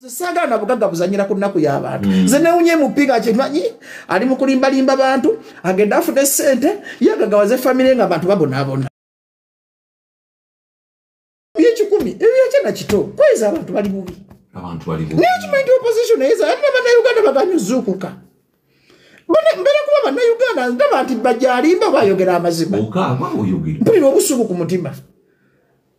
saagala na bugagga buzanyira ku nnaku y'abantu mm. nze newunye mupi nga kyemanyi ali mu kulimbalimba bantu agenda afuna esente ye agagawaze famire nga abantu babonaabona byekikumi ebyo yakyana kito kweza abantu bali bubi naye kimanyi nti opposition eyeza ate banauganda baganyi ozuukuka mbera kuba banauganda ndaba nti bajalimba bayogera amazima mpulira obusuku ku mutima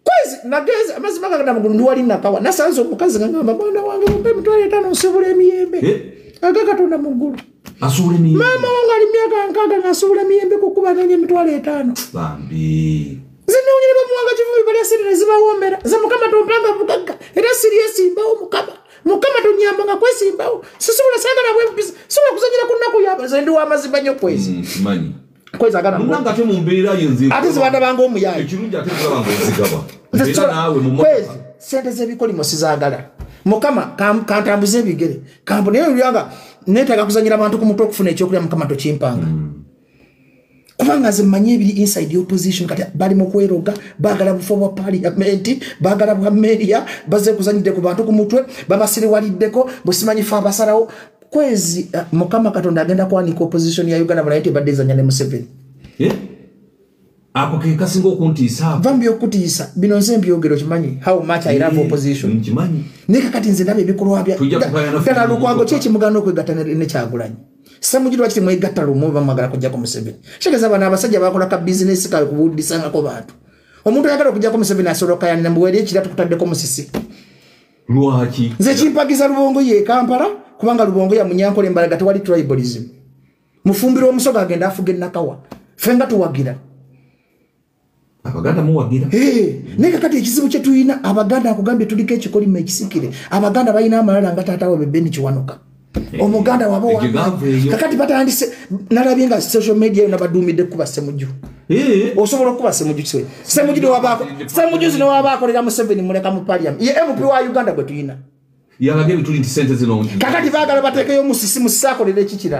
kwezi nagenze amazima gagenda mugulu ndiwali nakawa nasanze omukazi ngangamba mwana wange mumpe mitwalo etaano nsibula emiyembe eh? aga katonda mu ggulu maama wange ali myaka nkaaga ngasuubula emiyembe kukuba nonya emitwalo etaano zinonyere bamuwanga kivumi balya sente nezibawoomera ze mukama tompanga bugagga era siri esimbawo mukama mukama tonyamba nga kwesimbawo sisobola sagala bwempisa sobola kuzanyira ku nnaku yaba ze ndi wamazima nnyo kwezi mm, kweza agana muna ngate mu mbeera yenze ate zibanda bango omuyayi ekirungi ate kulaba ngo nzigaba era naawe mu kwezi sente z'ebikolimo sizagala mukama kantambuze ebigere kambu naye olyanga neetaaga kuzanyira abantu ku mutwe okufuna ekyokulya mukama tokimpanga hmm. kubanga nze mmanyi ebiri inside opposition kati bali mu kweroga baagala bufa bwa paliyamenti baagala bwa meria baze kuzanyidde ku bantu ku mutwe babasiriwaliddeko bwesimanyifa abasalawo kwezi uh, mukama katonda agenda kwanika opposition ya uganda banaye tebadde ezanya ne museveni eh? ako kekasinga okuntiisa va mubyokutiisa bino nze mbyogero kimanyi how much i love eh, opposition kimanyi naye kakati nze ndaba ebikolwa byadala lukwago ki ekimugana okwegatta nekyagulanyi samujiri wakiti mwegatta lumu bamwagala kujjako museveni kitegeeza bano abasajja bakola ka bizinesi kawe kubuudisangako bantu omuntu ayagala okujjako museveni asobola kayanira mbuweri ekira tukutaddeko musisi lwaki nze kimpagiza lubongo ye kampala kubanga lubongo ya munyankole mbalaga tewali tribalism mufumbira omusoga agenda afuga enakawa fe nga tuwagira abaganda muwagira naye kakati ekizibu kye tulina abaganda akugambye tuliko ekikolimo ekisikire abaganda balina amalala nga taata wabe beni kiwanuka Eh, omuganda waba ekyo gava eyo. kakati batandise nalabye nga social media yona baduumidde kukuba semuju Eh, osobola okukuba semuju kiwe semuju newabaako semuju zino waba akolera museveni muleka mu paliam ye mp wa uganda gwe tulina yalaga ebituli nti sente zino kakati baagala bateekeyo musisi musisi akolera ekikira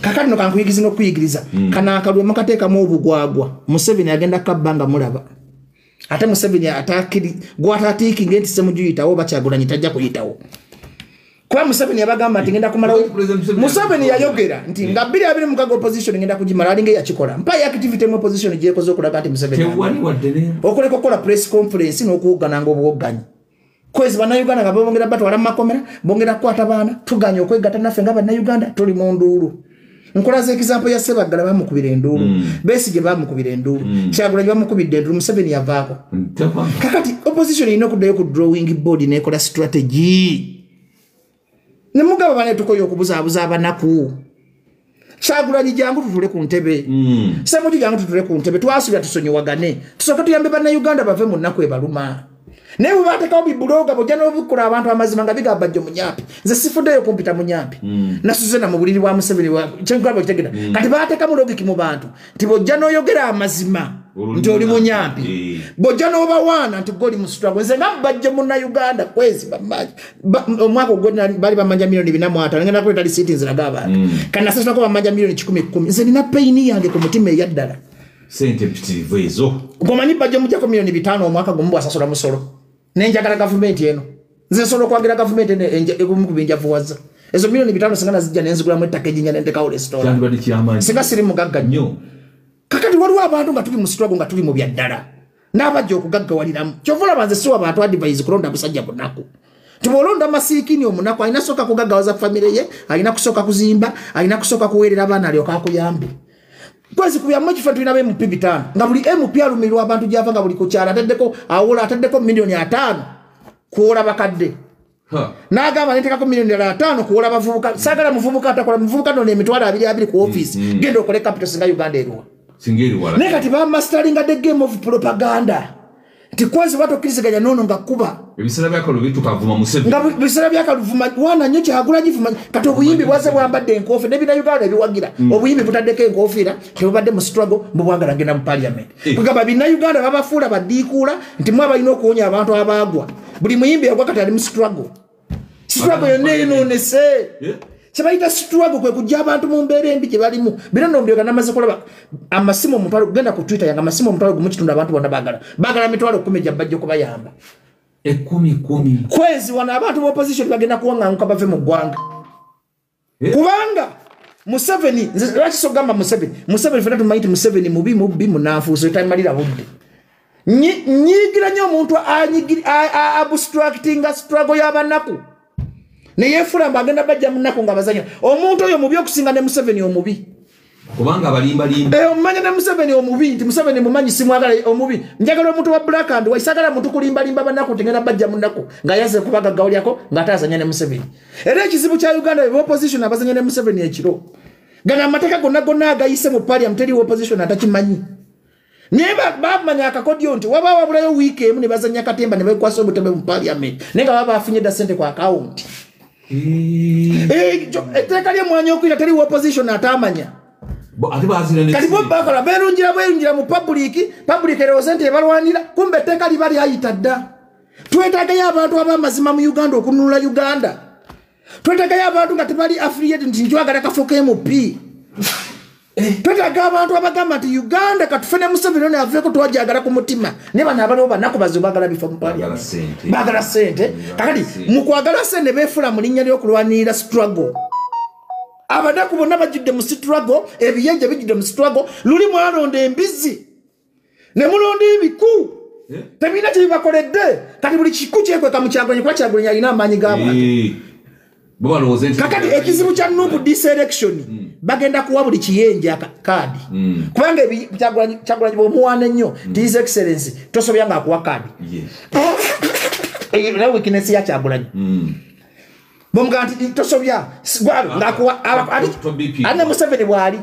kakati nokankuyigiza nokuyigiriza hmm. kana akalwe mukateekamu obugwagwa museveni agenda kabba nga mulaba ate museveni atakiri gwatatiikinga nti semujuyitawo bakyagulanyi tajja kuyitawo kuba museveni yabagamba nti ngenda kumalawo museveni yayogera nti nga biri abiri mukaga opposition ngenda kugimala alinga eyakikola mpayo activity mu opposition gyekoze okulaga nti museveni okuleka okukola press conference n'okuwoggananga obuwogganyi kwezi bannayuganda nga bongera batwala mu makomera bongera kukwata baana tuganye okwegatta naffe nga bannayuganda tuli mu nduulu nkola zekizampo ya sebaggala bamukubira enduulu mm. besige bamukubira enduulu mm. kyagulanyi bamukubidde enduulu museveni yavaako kakati opposition erina okuddayo ku drawing board nekola strategy ne mugaba bane tukoye okubuzaabuza abanaku kyagulanyi jangu tutule ku ntebe mm. semuju jangu tutule ku ntebe twasubira tusonyiwagane tusooke tuyambe bannayuganda bave mu nnaku ebaluma naye bwebatekawo bibuloga bojja nobukula abantu amazima nga bigamba jjo munyampi nze sifuddeyo kumpita munyampi mm. nasuze na mu buliri bwa museveni kyenkugamba kitegera mm. kati batekamu logiki mu bantu nti bwojja noyogera amazima nti oli munyampi eh. bwojja nobawaana nti goli musitwago nze nga bajje munauganda kwezi omwaka ogwo bali bamanja milioni bina mwatano ngenda kuleta lisiiti nziraga abantu mm. kanasasulako bamanja milioni kikumi kumi nze nina peyini yange ku mutima eyaddala sente mpitirivu ezo gomanyi bajje mujjako milioni bitaano omwaka gumu bwasasula musolo nenjagala gavumenti eno nze nsobola okwagira gavumenti eno egumu ku binjavuwaza ezo milioni bitano singa nazijja nenzigulamu ettaka ejinya nendekawo resitola singa siri mugagga nnyo kakati waliwo abantu nga tuli mu sitwago nga tuli mu byaddala n'abajja okugaggawaliramu kyova olaba nze siwa bantu adivise kulonda busajja bunaku tibolonda masiikini omunaku alina kusooka kugaggawaza famire ye alina kusooka kuzimba alina kusooka kuweerera abaana alyoka akuyambe kwezi ku byamu ekifo tulina be mupi bitano nga buli mp alumirwa abantu gyava nga buli kukyala ataddeko awola ataddeko milioni ataano kuwola bakadde nagamba netekako milioni ala ataano kuwola bavubuka sagala muvubuka atakola muvubuka nona emitwalo abiri abiri ku ofisi mm, mm. genda okole capital singa uganda eruwa naye kati bamastalinga the game of propaganda nti kwansi oba tokkiriziganya noono nga kuba ebiseera byakalubitukaavuma museveni nga biseera byakaluvuma wana nnyo kyagula givuma kati obuyimbi bwaze bwambadde enkoofi nebina uganda ebiwagira mm. obuyimbi butaddeko enkofiira tebubadde mu struggle mbubwagala genda mu parliament eh. kugamba bina uganda babafuula badiikuula nti mwe abalina okuwonya abantu abaagwa buli muyimbi yagwa kati ali mu struggle situlago yonna enoonese eh? kyebayita situlago kwe kujja abantu mu mbeera embi gye balimu bino nombyoga namaze kulaba amasimu omutwalo gugenda ku twitter yanga amasimu omutwalo gumu kitundu abantu bonna bagala bagala mitwalo kumi gya bajja okubayamba ekumi kumi kwezi wano abantu mu opposition bagenda kuwaŋanguka bave mu ggwanga kubanga museveni lwaki sogamba museveni museveni fena tumanyi ti museveni mubi mubbi munanfuuso tamalira budde nyigira nyo omuntu abstractinga struggle yabanaku neyefula mbu agenda bajja munaku nga bazanya omuntu oyo mubi okusinga ne museveni omubi kubanga balimba limba eh omanya na museveni omubi nti museveni mumanyi simwagala eh, omubi njagala omuntu wa black and white sagala muntu kulimba limba banako tengena bajja munako nga yaze kubaga gauli yako nga tazanya ne museveni era ekizibu kya uganda be opposition abazanya ne museveni ekiro gana mateka gonna gonna agayise mu parliament teri opposition atakimanyi naye bamanya akakodyo nti waba wabulayo wiiki emu ne bazanya katemba ne bekwasa obutebe mu paliament naye nga baba bafunye dda sente ku akawunti eh. eh, etteeka eh, lyemwanyi okuyita teri opposition atamanya kati bo bakola berungira bwerungira mu pabuliiki pabuliiki erowooze nti ebalwanira kumbe etteeka liba lyayita dda twetagayo abantu abamazima mu uganda okununula uganda twetagayo abantu nga tebali affiliate nti njwagala kafuka mp Eh. twetaga abantu abagamba nti uganda katufe ne museveni ono aveeko twajagala ku mutima naye bano abaliwo banaku bazi bagala bifa mupaliamtbagala sente kakati mukwagala sente befula mu linnya lyokulwanirira struggle abanaku bonna bajjudde mu struggle ebiyenje bijjudde mu struggle luli mwalonda embizi ne mulonda ebiku eh? tebirina kyebibakoledde kati buli kiku kyekweka mu kyagulanyi kuba kyagulanyi alina amaanyi g'abantu eh. kakati ekizibu kya nupu diselection hmm. bagenda kuwa buli kiyenja kaadi hmm. kubanga kyagulanyi bwomuwaana ennyo hmm. tis excellence tosobya nga akuwa kaadi naye wikinesi ya kyagulanyi bomugaa nti tosobya gwabe ngakuwa ane museveni bwali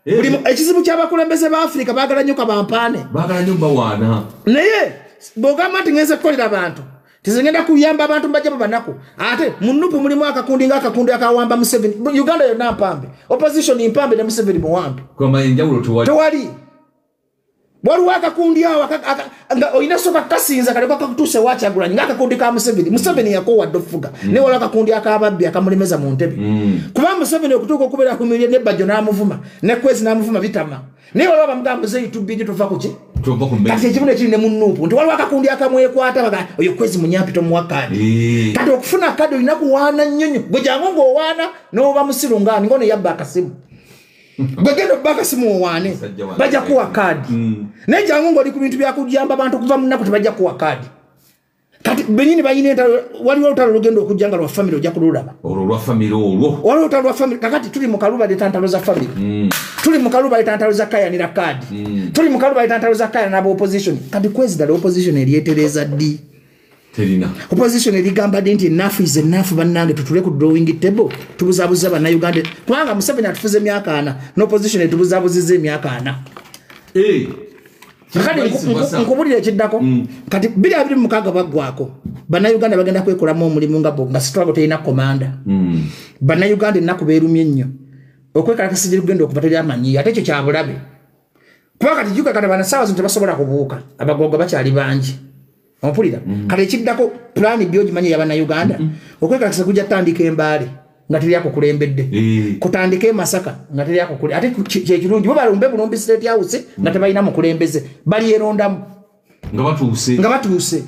Eh. buli mu- ekizibu ky'abakulembeze ba afirika baagala nnyo kabampaane bagala nyo bawaana naye bwogamba nti ngenze kukolera abantu tizigenda kuyamba abantu mbajja mu banaku ate mu nupu mulimu akakundi nga akakundi akawamba museveni Bu- uganda yonna mpambe opposition mpambe ne museveni muwambe kwama enjawulo tewali tewali waliwo akakundi awo nga olina soka kasinza kaleka kakutuuse wakyagulanyi nga akakundi ka museveni museveni yakowa dde okufuga mm. naye waliwo akakundi akababbi akamulemeza mu ntebe mm. kuba museveni okutuuka okubeera ku mirye nebajjo n'amuvuma ne kwezi n'amuvuma bitama naye waliwo abamugamba muzeeyi tubbingi tuva ku ki kati ekimu nekiri ne mu nuupu nti waliwo akakundi akamwekwata baga oyo kwezi munyampi tomuwa kadi eh. kati okufuna kadi olina kuwaana nnyo nnyo gwe jangu ng'owaana n'oba musiru ngaani ng'ono yabba akasimu bwegenda okuba akasimu owaane bajja kuwa kaadi mm. naye jangu ngaoli ku bintu byakujamba abantu okuva munaku tebajja kuwa kaadi kati benyini bayina entalo waliwo olutalo lugenda okujja nga lwa famiry ojja kululaba waliwo olutalo lwa famiry kakati tuli mukaluba leta ntalo za famiry mm. tuli mukaluba leta ntalo za kayanira kaadi mm. tuli mukaluba leta ntalo za kayana naba opposition kati kwezidala opposition eryetereza ddi terina opposition erigamba dde nti enough is enough bannange tutule ku drawing table tubuzabuza bannayuganda kubanga museveni atufuza emyaka ana n'opposition etubuzabuziza emyaka ana eh, kati nkubulira ekiddako mm. kati biri abiri mukaaga baggwako bannayuganda bagenda kwekolamu omulimu nga bo nga sitwago terina komanda mm. bannayuganda ennaku beerumye ennyo okwekalakasa gye lugenda okuva teri amanyi ate ekyo kyabulabe kuba kati jukakana bana sawa zino tebasobola kubuuka abagogo bakyali bangi ompulira mm. kale ekiddako pulaani byo ogimanyi eyabannayuganda mm. okwekalakisa kujja tandika embaale nga teri akukulembedde eh. kutandika emasaka nga teri akukule ate kyekirungi bo balumbe bulumbi state house nga mm. tebalina mukulembeze balyerondamu nga batuuse nga batuuse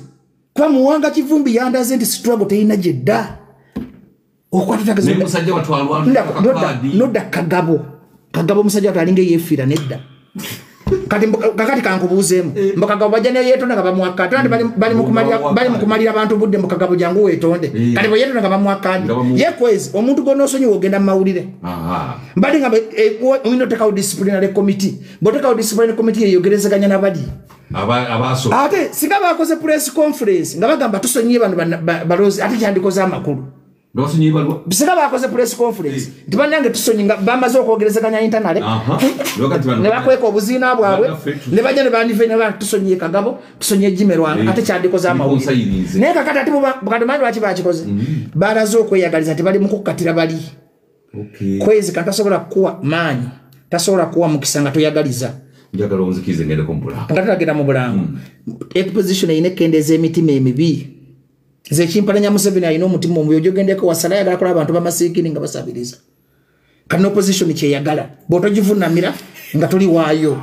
kuba muwanga kivumbi yandaze nti situlago terina gyedda okwatitagnoda kagabo kagabo omusajja watu alinga eyefiira nedda kati kakati kankubuuzeemu eh. mbukagabo bajja neyetonda nga bamwakati andi bali mukumalira abantu budde mukagabo jangu wetonde eh. kati bweyetonda nga bamwakadi yekwezi omuntu gona osonyiwa ogenda mumawulire mbadde nga eh, oyina otekawo disciplinary committee bwotekawo disciplinary committee yeyogerezeganya nabali ate singa bakoze press conference nga bagamba tusonyiye bano balozi ate kyandikoze amakulu singa bakoze press conference eh. nti banange tusonyi nga bamaze okwogerezeganya intanale nebakweka obuziina bwabwe nebaja nebanivenaa tusonyiye kagabo tusonyiye jimerwanga eh. ate kyandikoze amawulire naye kakati ati bukati manyi lwaki bakikoze mm-hmm. balaze okweyagaliza nti bali mukukkatira bali okay. kwezika tasobola kukuwa maanyi tasobola kuwa mukisa nga toyagaliza njagala onzikirize ngendeko mubulango nga tulagenda mu bulango hmm. exposition erina ekendeeza emitima emibi zekimpalanya museveni alina omutima omubi ojogendeko wasala ayagala kola abantu bamasiikini nga basabiriza kati noposition kyeyagala bwotojivunamira nga tuli waayo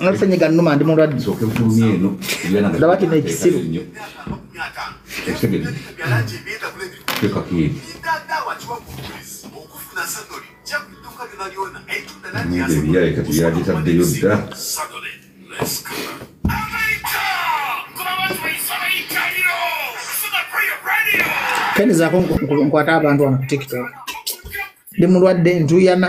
nasenyiga numa ndi mulwadde ndaba kino ekisiru yagitaddeyo dda kenizako nkwata abantu wano ku tiktok ndi mulwadde ntuyana